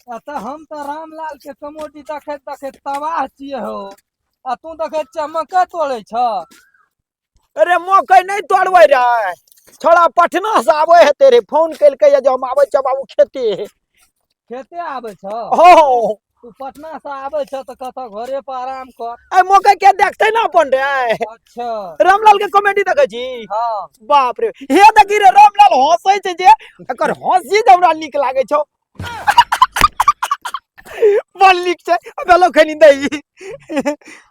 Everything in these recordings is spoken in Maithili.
आ तऽ हम तऽ रामलाल के कमोडी देखैत देखैत तबाह छियै हो आ तू देखैत छियै मकइ तोड़ै छ अरे मकइ नहि तोड़बै रे छोड़ा पटना से आबै हेतै रे फोन केलकै जे हम आबै छियै बाबू खेते खेते आबै छ हो तू पटना से आबे छ त कत घरे पर आराम कर ए मौका के देखते ना अपन रे अच्छा रामलाल के कॉमेडी देखे छी हां बाप रे हे देखी रे रामलाल हंसै छै जे एकर हंसी जे हमरा नीक लागे छौ बड़ नीक छै अबे लो खनी दही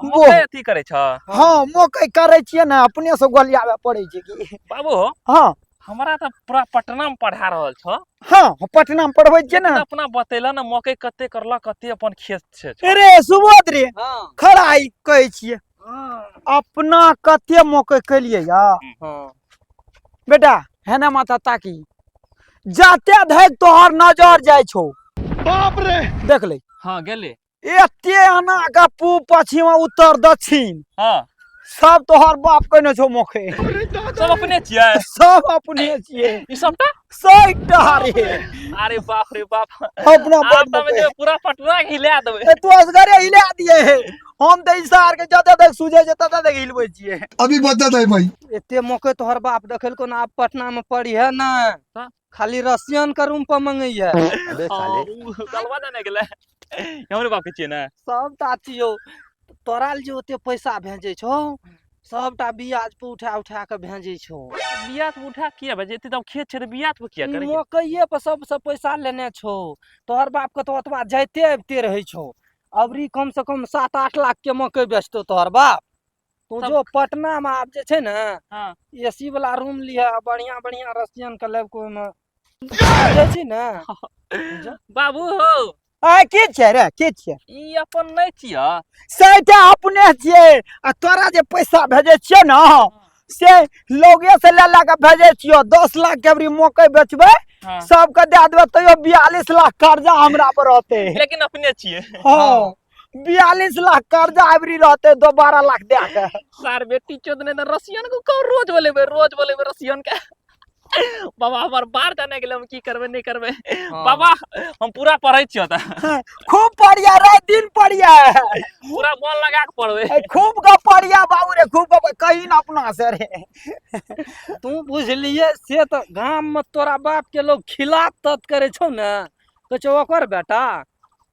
वो मकइ अथी करै छ हाँ मकइ करै छियै ने अपने से गोलियावे पड़ै छै कि बाबू हो हाँ हमरा तऽ पूरा पटना में पढ़ा रहल छ हाँ हम पटना में पढ़बै छियै ने अपना बतेला ने मकइ कते करला कते अपन खेत छै छ। अरे सुबोध रे हाँ खड़ा ई कहै छियै अपना कते मकइ केलियै या हाँ बेटा है ना माता ताकी जाते धैक तोहर नजर जाइ छौ बाप रे देख ले हाँ गेले एते आना का पूब पश्चिम उत्तर दक्षिण हाँ सब तोहर बाप कहने छौ मोखे सब अपने छियै सब अपने छियै ई सबटा सही टहरे अरे बाप रे बाप अपना आप बाप तमे जे पूरा पटना के हिला देबै ए तू असगरे हिला दिए हे हम ते इसार के जते तक सुझे जे तते तक हिलबै छियै अभी बदत है भाई एते मौके तोहर बाप देखल को ना आप पटना में पड़ी है ना हाँ। खाली रसियन के रूम पर मंगैया अबे हाँ, साले उ गलवा ना ने गेले हमरे बाप के छिए ना सब ताती हो तोरा ले जे ओते पैसा भेजै छौ सबटा ब्याज पर उठा उठा के भेजै छौ बिया से उठा किया बजे एते तब खेत छै त बिया से किया ई करे मकइये पर सबसे पैसा लेने छौ तोहर बाप के तो ओतबा जाइते अबिते रहै छौ अबरी कम से कम सात आठ लाख के मकइ बेचतौ तोहर बाप तू सब- जो पटना में आब जे छै ने हँ एसी वाला रूम लिह आ बढ़िया बढ़िया रसियन के लेब कोई में बुझै छी ने बाबू हो आ के छियै रे के छियै ई अपन नहि छियै सैटा अपने छियै आ तोरा जे पैसा भेजै छियै ने से लोगे से ले ला के भेजै छियो दस लाख के अबरी मकई बेचबै हँ। सबके दे देबै तैयो बियालीस लाख कर्जा हमरा पर रहतै लेकिन अपने छियै हँ बयालीस लाख कर्जा अबरी रहते दो बारह लाख दे के सार बेटी चोद ने त रसियन को कहो रोज बोलेबे रोज बोलेबे रसियन के बाबा हमर बाहर जाने के लिए हम की करबे नहीं करबे हाँ। बाबा हम पूरा पढ़ै छियो त खूब पढ़िया रात दिन पढ़िया पूरा मन लगा के पढ़बे ए, खूब का पढ़िया बाबू रे खूब का कहीं ना अपना से रे तू बुझलिए से तो गाम में तोरा बाप के लोग खिलाफ तत करे छौ ने तो छौ ओकर बेटा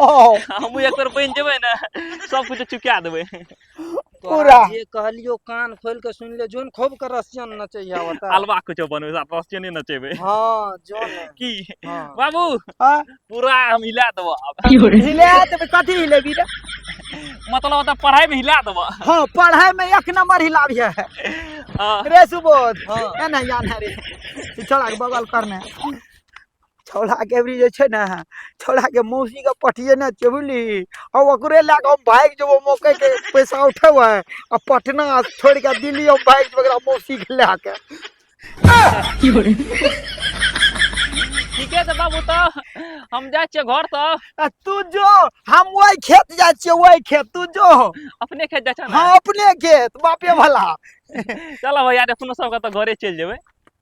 हम एक बेर बनि जेबै ने सब कुछ चुका देबै पूरा जे कहलियो कान खोल के सुन ले जोन खूब के रसियन नचैया बता हलवा कुछ बनबै सा रसियन नचेबै हां जोन की हाँ। बाबू हां पूरा हम हिला देबो अब हिला देबै कथि हिलेबी रे मतलब त पढ़ाई में हिला देबो हां पढ़ाई में एक नंबर हिलाबी है हाँ। रे सुबोध हां एना यान रे चला बगल करने छोड़ा के अबरी जे छै ने छोड़ा के मौसी के पटिए ने छै बुझली आ ओकरे लए कऽ हम भागि जेबो मौके के पैसा उठेबै आ पटना छोड़ के दिल्ली हम भागि जेबै ओकरा मौसी के लए के ठीके छै बाबू तऽ हम जाइ छियै घर तऽ आ तू जो हम वही खेत जाइ छियै वही खेत तू जो अपने खेत जाइ छै ने हाँ अपने खेत बापे भला चलऽ भैया रे अपनो सबके तऽ घरे चलि जेबै